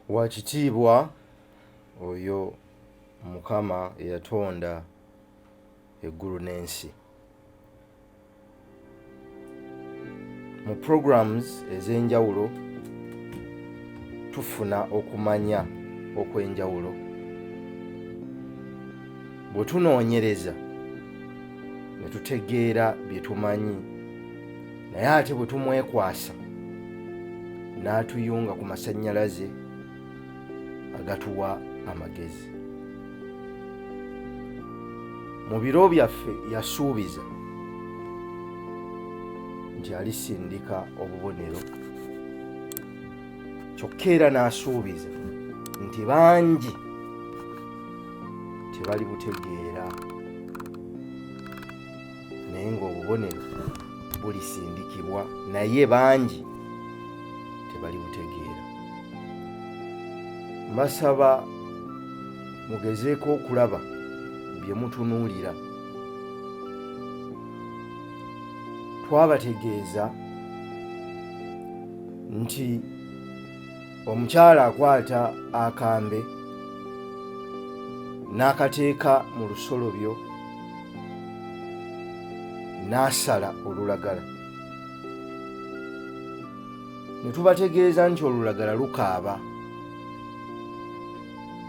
wakitiibwa oyo mukama eyatonda eggulu n'ensi mu programs ez'enjawulo tufuna okumanya okw'enjawulo bwe tunoonyereza ne tutegeera bye tumanyi naye ate bwe tumwekwasa n'atuyunga ku masannyalaze agatuwa amagezi mu biro byaffe yasuubiza nti alisindika obubonero kyokka era n'asuubiza nti bangi tebali butegeera naye ng'obubonero bulisindikibwa naye bangi tebali butegeera mbasaba mugezeeko okulaba bye mutunuulira twabategeeza nti omukyala akwata akambe n'akateeka mu lusolobyo n'asala olulagala ne tubategeeza nti olulagala lukaaba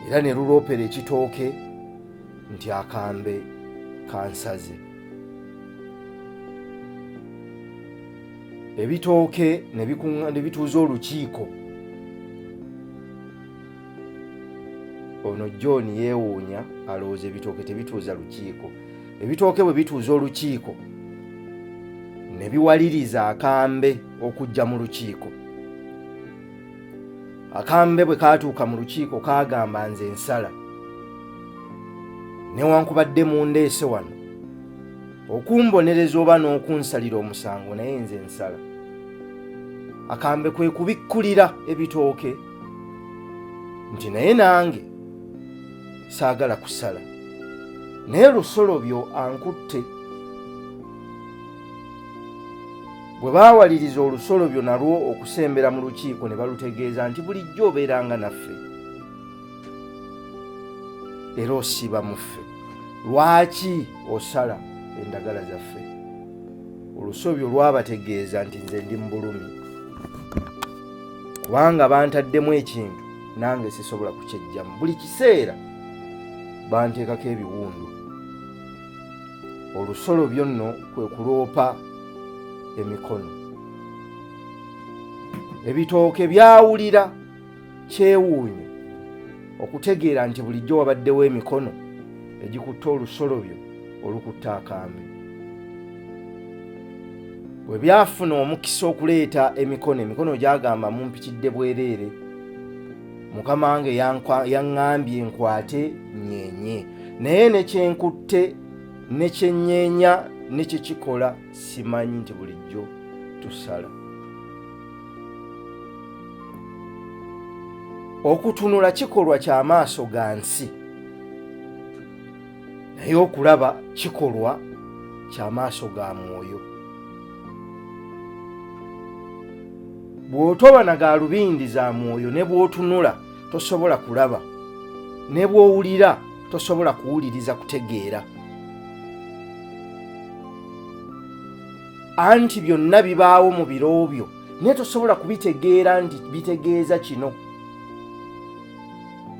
era ne luloopera ekitooke nti akambe kansaze ebitooke ne bituuza olukiiko ono john yeewuunya alowooza ebitooke tebituuza lukiiko ebitooke bwe bituuza olukiiko ne biwaliriza akambe okujja mu lukiiko akambe bwe kaatuuka mu lukiiko kaagamba nze ensala newankubadde mundeese wano okumbonereza oba n'okunsalira omusango naye nze nsala akambe kwe kubikkulira ebitooke nti naye nange saagala kusala naye lusolobyo ankutte bwe baawaliriza olusolobyo nalwo okusembera mu lukiiko ne balutegeeza nti bulijjo obeeranga naffe era osiiba mu ffe lwaki osala endagala zaffe olusobi olwabategeeza nti nze ndi mu bulumi kubanga bantaddemu ekintu nange sisobola kukyejjamu buli kiseera banteekako ebiwundu olusolo byonno kwe kuloopa emikono ebitooke byawulira kyewuunyo okutegeera nti bulijjo wabaddewo emikono egikutte olusolobyo olukutta akambe bwe byafuna omukisa okuleeta emikono emikono gyagamba mumpitidde bwereere mukama wange yaŋŋambye nkwate nyenye naye nekyenkutte nekyenyeenya nekyekikola simanyi nti bulijjo tusala okutunula kikolwa kyamaaso ga nsi naye okulaba kikolwa kyamaaso ga mwoyo bw'otoba na galubindi za mwoyo ne bw'otunula tosobola kulaba ne bw'owulira tosobola kuwuliriza kutegeera anti byonna bibaawo mu biro byo naye tosobola kubitegeera nti bitegeeza kino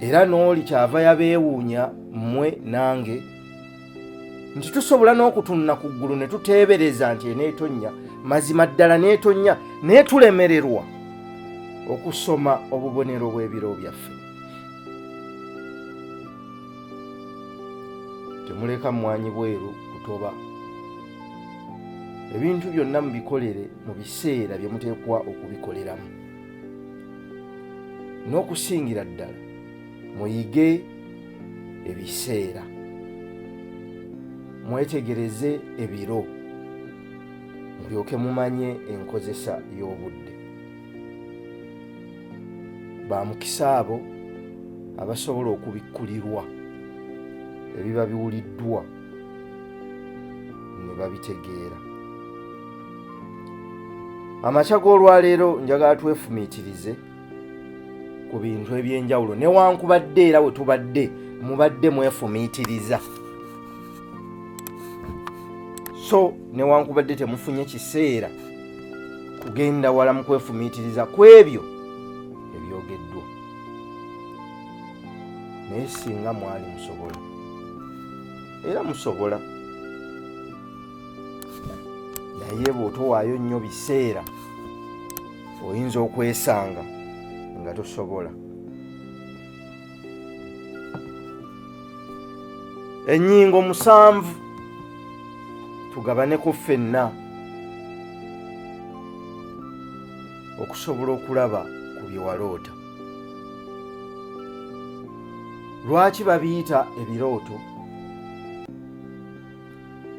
era n'oli kyava yabeewuunya mmwe nange nti tusobola n'okutunula ku ggulu ne tuteebereza nti eneetonnya mazima ddala neetonnya naye tulemererwa okusoma obubonero bw'ebiro byaffe temuleka mmwanyi bweru kutoba ebintu byonna mubikolere mu biseera bye muteekwa okubikoleramu n'okusingira ddala muyige ebiseera mwetegereze ebiro mulyoke mumanye enkozesa y'obudde ba mukisa abo abasobola okubikkulirwa ebiba biwuliddwa ne babitegeera amakya g'olwaleero njagala twefumiitirize ku bintu eby'enjawulo newankubadde era we tubadde mubadde mwefumiitiriza so newankubadde temufunye kiseera kugenda wala mu kwefumiitiriza ku ebyo ebyogeddwa naye singa mwali musobola era musobola naye bw'otowaayo nnyo biseera oyinza okwesanga nga tosobola ennyingo musanvu tugabaneko ffenna okusobola okulaba ku bye waloota lwaki babiyita ebirooto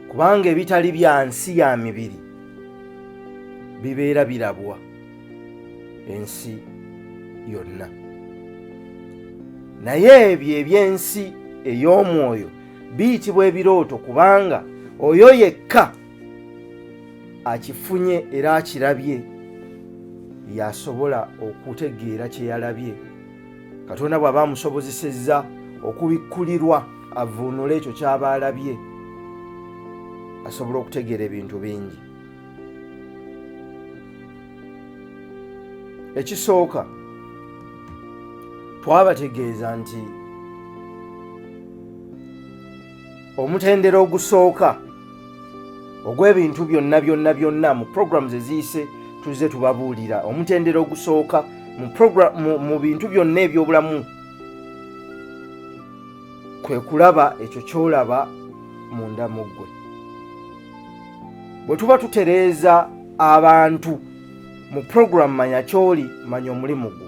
kubanga ebitali bya nsi ya mibiri bibeera birabwa ensi yonna naye ebyo eby'ensi ey'omwoyo biyitibwa ebirooto kubanga oyo yekka akifunye era akirabye yasobola okutegeera kye yalabye katonda bw'aba amusobozesezza okubikkulirwa avuunule ekyo ky'aba alabye asobola okutegeera ebintu bingi ekisooka twabategeeza nti omutendera ogusooka ogw'ebintu byonna byonna byonna mu programs eziyise tuzze tubabuulira omutendera ogusooka mu, mu, mu bintu byonna ebyobulamu kwe kulaba ekyo kyolaba munda mu ggwe bwe tuba tutereeza abantu mu programu manya kyoli manya omulimu gwo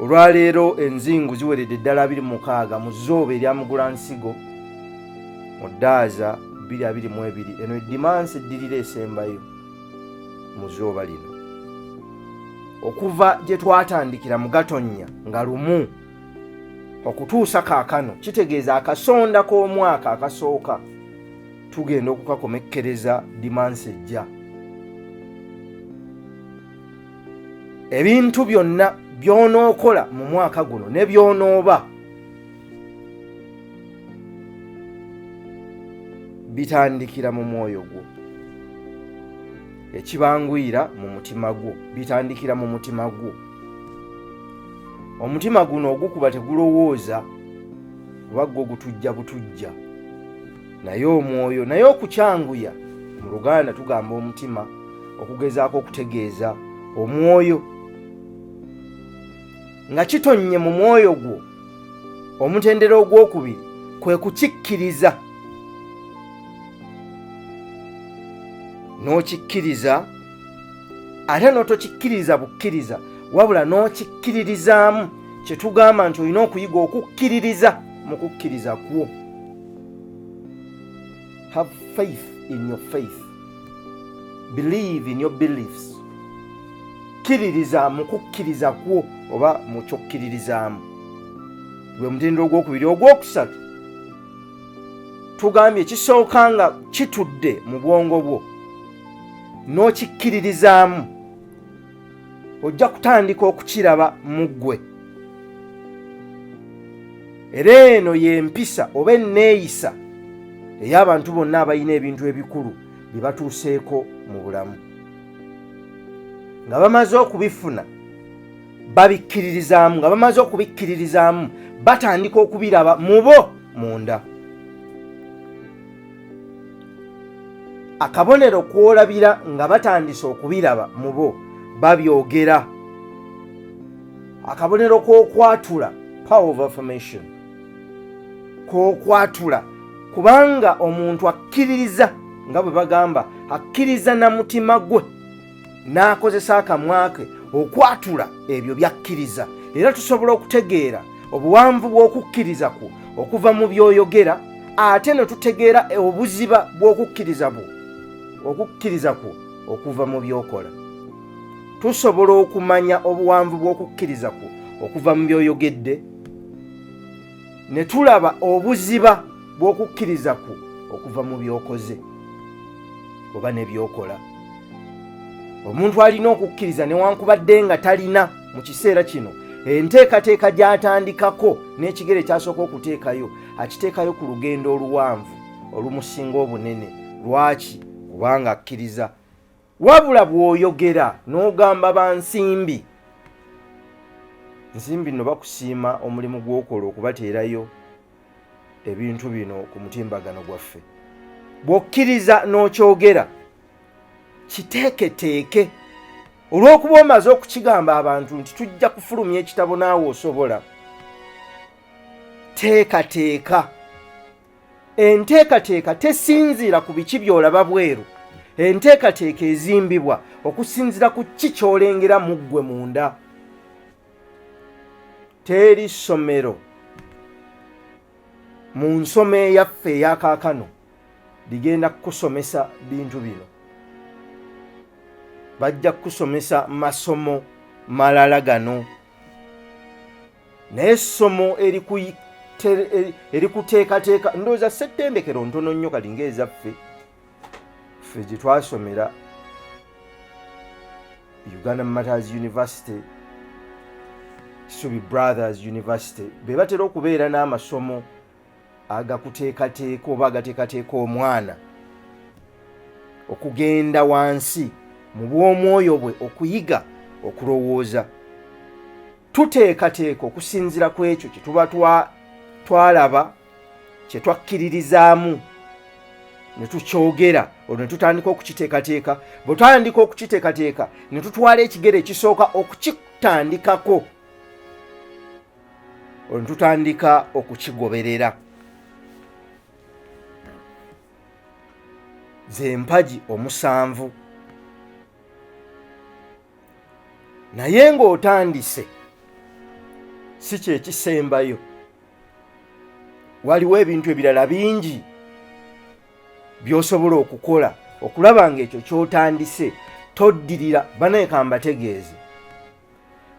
olwaleero enzingu ziweredde ddala 26 mu zooba erya mugula nsigo mu ddaaza 222 eno edimansi eddirira esembayo mu zooba lino okuva gye twatandikira mu gatonnya nga lumu okutuusa kaakano kitegeeza akasonda k'omwaka akasooka tugenda okukakomekkereza dimansi ejja ebintu byonna by'onookola mu mwaka guno ne by'onooba bitandikira mu mwoyo gwo ekibanguyira mu mutima gwo bitandikira mu mutima gwo omutima guno ogukuba tegulowooza kuba gwo gutujja butujja naye omwoyo naye okukyanguya mu luganda tugamba omutima okugezaako okutegeeza omwoyo nga kitonnye mu mwoyo gwo omutendera ogwokubiri kwe kukikkiriza n'okikkiriza ate n'otokikkiriza bukkiriza wabula n'okikkiririzaamu kye tugamba nti olina okuyiga okukkiririza mu kukkiriza kwo Have faith in your faith. Believe in your beliefs. Kkiririza mu kukkiriza kwo oba mu kyokkiririzaamu. Gwe mutindo ogwokubiri ogwokusatu. Tugambye kisooka nga kitudde mu bwongo bwo n'okikkiririzaamu. ojja kutandika okukiraba mu ggwe era eno y'empisa oba enneeyisa ey'abantu bonna abalina ebintu ebikulu bye batuuseeko mu bulamu nga bamaze okubifuna babikkiririzaamu nga bamaze okubikkiririzaamu batandika okubiraba mu bo munda akabonero kwolabira nga batandise okubiraba mu bo babyogera akabonero k'okwatula power of affirmation k'okwatula kubanga omuntu akkiririza nga bwe bagamba akkiriza na mutima gwe n'akozesa akamwa ke okwatula ebyo by'akkiriza era tusobola okutegeera obuwanvu bw'okukkiriza kwo okuva mu by'oyogera ate ne tutegeera obuziba bw'okukkiriza bwo okukkiriza kwo okuva mu by'okola tusobola okumanya obuwanvu bw'okukkiriza kwo okuva mu by'oyogedde ne tulaba obuziba bw'okukkiriza kwo okuva mu by'okoze oba ne by'okola omuntu alina okukkiriza newankubadde nga talina mu kiseera kino enteekateeka gy'atandikako n'ekigere kyasooka okuteekayo akiteekayo ku lugendo oluwanvu olumusinga obunene lwaki kubanga akkiriza wabula bw'oyogera n'ogamba ba nsimbi nsimbi nno bakusiima omulimu gw'okola okubateerayo ebintu bino ku mutimbagano gwaffe bw'okkiriza n'okyogera kiteeketeeke olw'okuba omaze okukigamba abantu nti tujja kufulumya ekitabo naawe osobola teekateeka enteekateeka tesinziira ku biki by'olaba bweru enteekateeka ezimbibwa okusinziira ku ki ky'olengera mu ggwe munda teri ssomero mu nsoma eyaffe eyakaakano ligenda kukusomesa bintu bino bajja kukusomesa masomo malala gano naye essomo erikuteekateeka ndowooza settendekero ntono nnyo kati ngaezaffe ffe gye twasomera uganda matters university subi brothers university be batera okubeera n'amasomo agakuteekateeka oba agateekateeka omwana okugenda wansi mu bw'omwoyo bwe okuyiga okulowooza tuteekateeka okusinzira ku ekyo kye tuba twalaba kye twakkiririzaamu ne tukyogera olwo ne tutandika okukiteekateeka bwe twatandika okukiteekateeka ne tutwala ekigere ekisooka okukitandikako olwo ne tutandika okukigoberera z'empagi omusanvu naye ng'otandise si kyekisembayo waliwo ebintu ebirala bingi by'osobola okukola okulaba ng'ekyo ky'otandise toddirira banaeka mbategeeze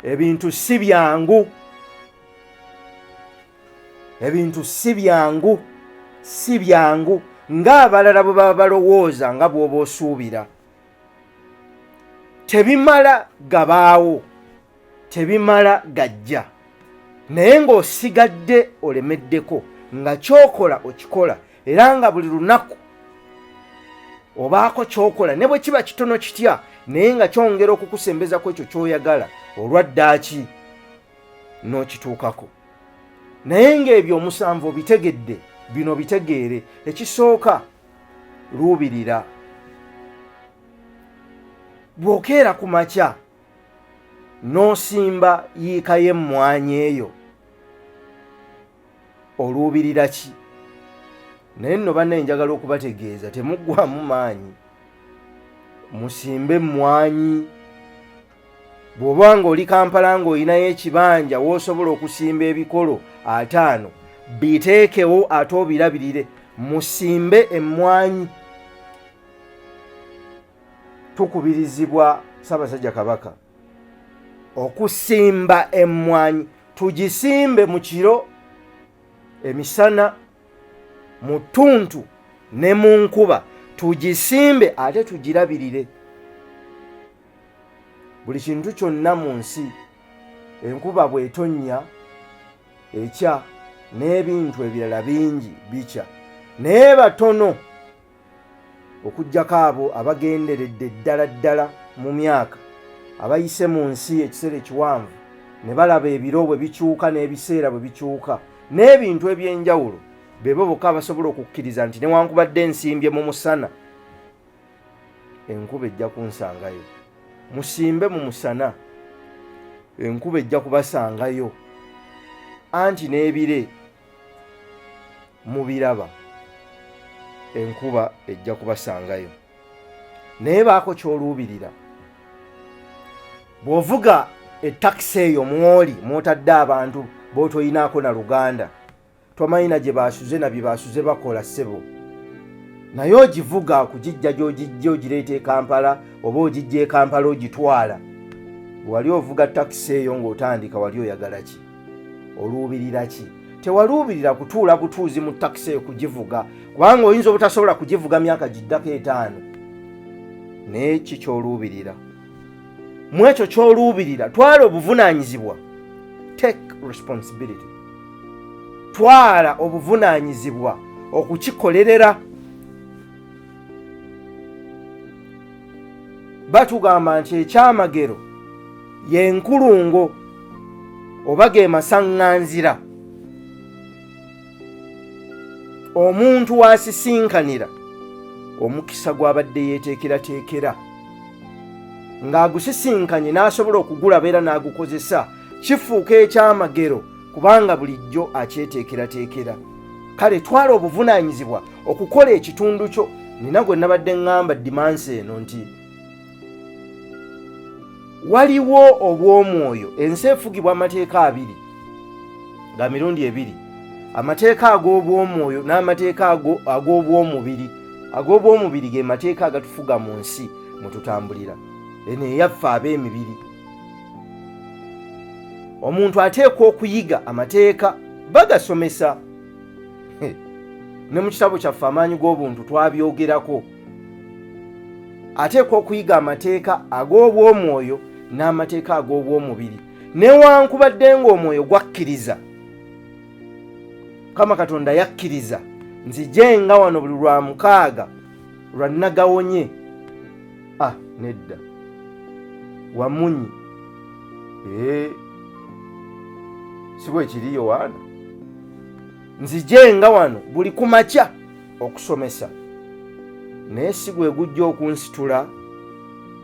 ebintu si byangu ebintu si byangu si byangu ng'abalala bwe baba balowooza nga bw'oba osuubira tebimala gabaawo tebimala gajja naye ng'osigadde olemeddeko nga kyokola okikola era nga buli lunaku obaako kyokola ne bwe kiba kitono kitya naye nga kyongera okukusembeza ku ekyo kyoyagala olwa ddaaki n'okituukako naye ng'ebyo omusanvu obitegedde bino bitegeere ekisooka luubirira bw'okeera ku makya n'osimba yiika y'emmwanyi eyo oluubirira ki naye nno banna enjagala okubategeeza temuggwamu maanyi musimbe emmwanyi bw'oba ng'oli kampala ng'olinayo ekibanja w'osobola okusimba ebikolo ataano biteekewo ate obirabirire musimbe emmwanyi tukubirizibwa ssaabasajja kabaka okusimba emmwanyi tugisimbe mu kiro emisana mu ttuntu ne mu nkuba tugisimbe ate tugirabirire buli kintu kyonna mu nsi enkuba bw'etonnya ekya n'ebintu ebirala bingi bikya naye batono okugyako abo abagenderedde ddala ddala mu myaka abayise mu nsi ekiseera ekiwanvu ne balaba ebiro bwe bikyuka n'ebiseera bwe bikyuka n'ebintu eby'enjawulo bebo bokka abasobola okukkiriza nti newankubadde ensimbye mu musana enkuba ejja kunsangayo musimbe mu musana enkuba ejja kubasangayo anti n'ebire mubiraba enkuba ejja kubasangayo naye baako kyoluubirira bw'ovuga etakisi eyo mwoli mwotadde abantu b'otoyinaako na luganda tomanyi na gye basuze na bye basuze bakola ssebo naye ogivuga kugijja gyogijja ogireeta ekampala oba ogijja ekampala ogitwala wali ovuga takisi eyo ng'otandika wali oyagala ki oluubirira ki tewaluubirira kutuula butuuzi mu takisi eyo kugivuga kubanga oyinza obutasobola kugivuga myaka giddako etaano naye ki kyoluubirira mu ekyo ky'oluubirira twala obuvunaanyizibwa take responsibility twala obuvunaanyizibwa okukikolerera batugamba nti ekyamagero yenkulungo oba ge masaŋŋanzira omuntu wasisinkanira omukisa gw'abadde yeeteekerateekera ng'agusisinkanye n'asobola okugulaba era n'agukozesa kifuuka ekyamagero kubanga bulijjo akyeteekerateekera kale twala obuvunaanyizibwa okukola ekitundu kyo nina gwe nabadde ŋŋamba dimansi eno nti waliwo obw'omwoyo ensi efugibwa amateeka abiri nga mirundi ebiri amateeka ag'obw'omwoyo n'amateeka ag'obw'omubiri ag'obw'omubiri ge mateeka agatufuga mu nsi mwe tutambulira eno eyaffe ab'emibiri omuntu ateekwa okuyiga amateeka bagasomesa ne mu kitabo kyaffe amaanyi g'obuntu twabyogerako ateekwa okuyiga amateeka ag'obw'omwoyo n'amateeka ag'obw'omubiri newankubadde ng'omwoyo gwakkiriza mukama katonda yakkiriza nzije nga wano buli lwa mukaaga lwa nagawonye a ah, nedda wamunyi ee eh, si bwekiri yowaana nzije nga wano buli kumakya okusomesa naye si gwe gujja okunsitula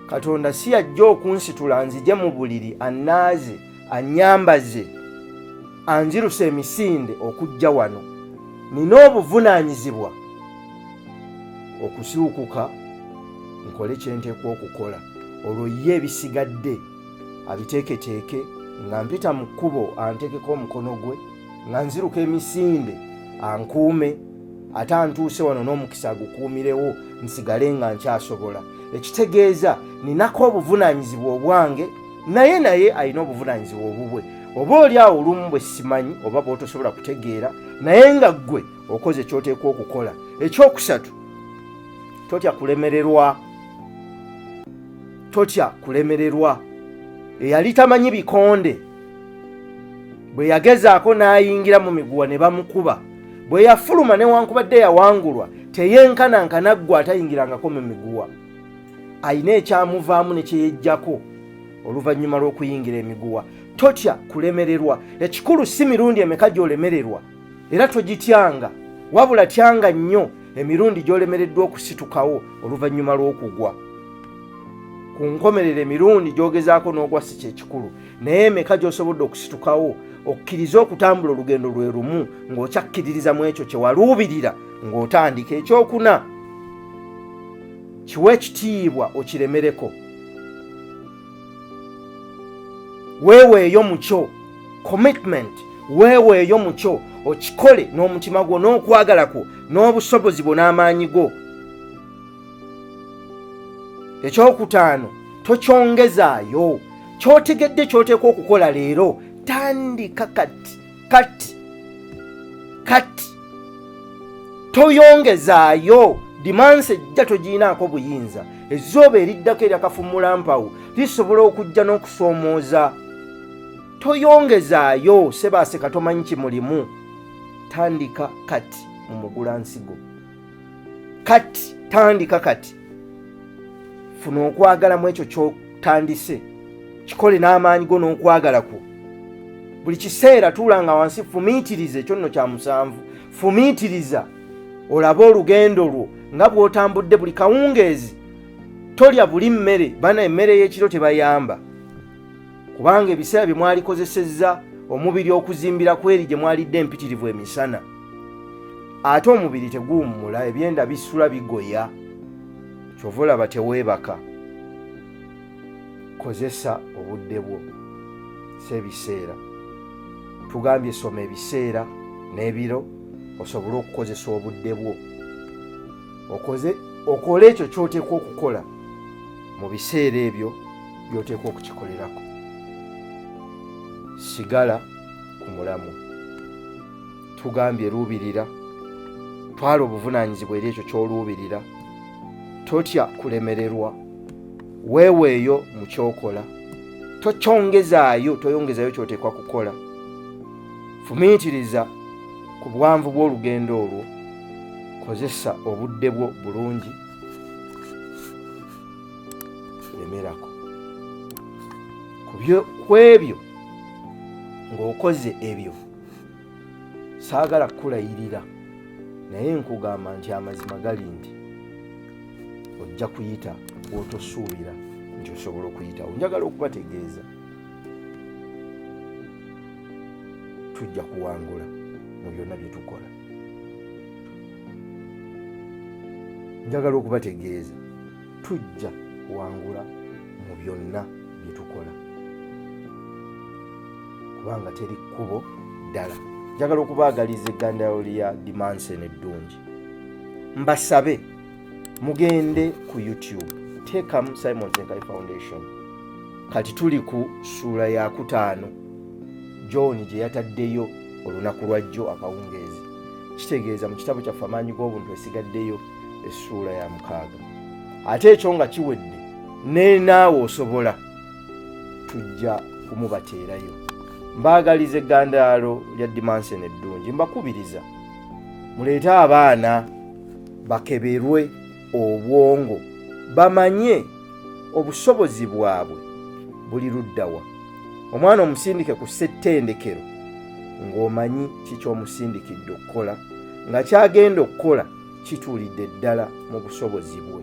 katonda si yajja okunsitula nzije mu buliri annaaze annyambaze anziruse emisinde okujja wano nina obuvunaanyizibwa okusiwukuka nkole kye nteekwa okukola olwo ye ebisigadde abiteeketeeke nga mpita mu kkubo anteekeko omukono gwe nga nziruka emisinde ankuume ate antuuse wano n'omukisa agukuumirewo nsigale nga nkyasobola ekitegeeza ninako obuvunaanyizibwa obwange naye naye alina obuvunaanyizibwa obubwe oba oli awo olumu bwe simanyi oba bwotosobola kutegeera naye nga ggwe okoze ekyoteekwa okukola ekyokusatu totya kulemererwa totya kulemererwa eyali tamanyi bikonde bwe yagezaako n'ayingira mu miguwa ne bamukuba bwe yafuluma newankubadde yawangulwa teyenkananka naggwa atayingirangako mu miguwa alina ekyamuvaamu ne kyeyejjako oluvannyuma lw'okuyingira emiguwa totya kulemererwa ekikulu si mirundi emeka gy'olemererwa era togityanga wabula tyanga nnyo emirundi gy'olemereddwa okusitukawo oluvannyuma lw'okugwa ku nkomerero emirundi gy'ogezaako n'ogwa si kyekikulu naye emeka gy'osobodde okusitukawo okkirize okutambula olugendo lwe lumu ng'okyakkiririza mu ekyo kye waluubirira ng'otandika ekyokuna kiwa ekitiibwa okiremereko weeweeyo mu kyo commitment weeweeyo mu kyo okikole n'omutima gwo n'okwagala kwo n'obusobozi bwo n'amaanyi go ekyokutaano tokyongezaayo kyotegedde kyoteeka okukola leero tandika kati kati kati toyongezaayo dimansi ejja togiyinaako buyinza ezooba eriddako eryakafummula mpawo lisobola okujja n'okusoomooza toyongezaayo sebaaseka tomanyi kimulimu tandika kati mu mugula nsigo kati tandika kati funa okwagala mu ekyo kyotandise kikole n'amaanyi go n'okwagala kwo buli kiseera tuulanga wansi fumiitiriza ekyo nno kya musanvu fumiitiriza olabe olugendo lwo nga bw'otambudde buli kawungeezi tolya buli mmere bana emmere y'ekiro tebayamba kubanga ebiseera bye mwalikozesezza omubiri okuzimbira ku eri gye mwalidde empitirivu emisana ate omubiri teguwummula ebyenda bisula bigoya kyova olaba teweebaka kozesa obudde bwo si ebiseera tugambye soma ebiseera n'ebiro osobole okukozesa obudde bwo okoze okole ekyo kyoteekwa okukola mu biseera ebyo by'oteekwa okukikolerako sigala ku mulamu tugambye luubirira twala obuvunaanyizibwa eri ekyo ky'oluubirira totya kulemererwa weeweeyo mu kyokola tokyongezaayo toyongezaayo kyoteekwa kukola fumiitiriza ku buwanvu bw'olugendo olwo kozesa obudde bwo bulungi lemerako ku ebyo ng'okoze ebyo saagala kukulayirira naye nkugamba nti amazima gali nti ojja kuyita wotosuubira nti osobola okuyitawo njagala okubategeeza tujja kuwangula mu byonna bye tukola njagala okubategeeza tujja kuwangula mu byonna bye tukola kubanga teri kkubo ddala njagala okubaagaliza eggandalo lya dimanseni eddungi mbasabe mugende ku youtube tekamu simon senkale foundation kati tuli ku suula yakutaano john gye yataddeyo olunaku lwajjo akawungeezi kitegeeza mu kitabo kyaffe amaanyi g'obuntu esigaddeyo essuula ya mukaaga ate ekyo nga kiwedde nenaawe osobola tujja kumubateerayo mbaagaliza eggandaalo lya dimanseni eddungi mbakubiriza muleete abaana bakeberwe obwongo bamanye obusobozi bwabwe buli luddawa omwana omusindike ku ssettendekero ng'omanyi kikyomusindikidde okukola nga kyagenda okukola kituulidde ddala mu busobozi bwe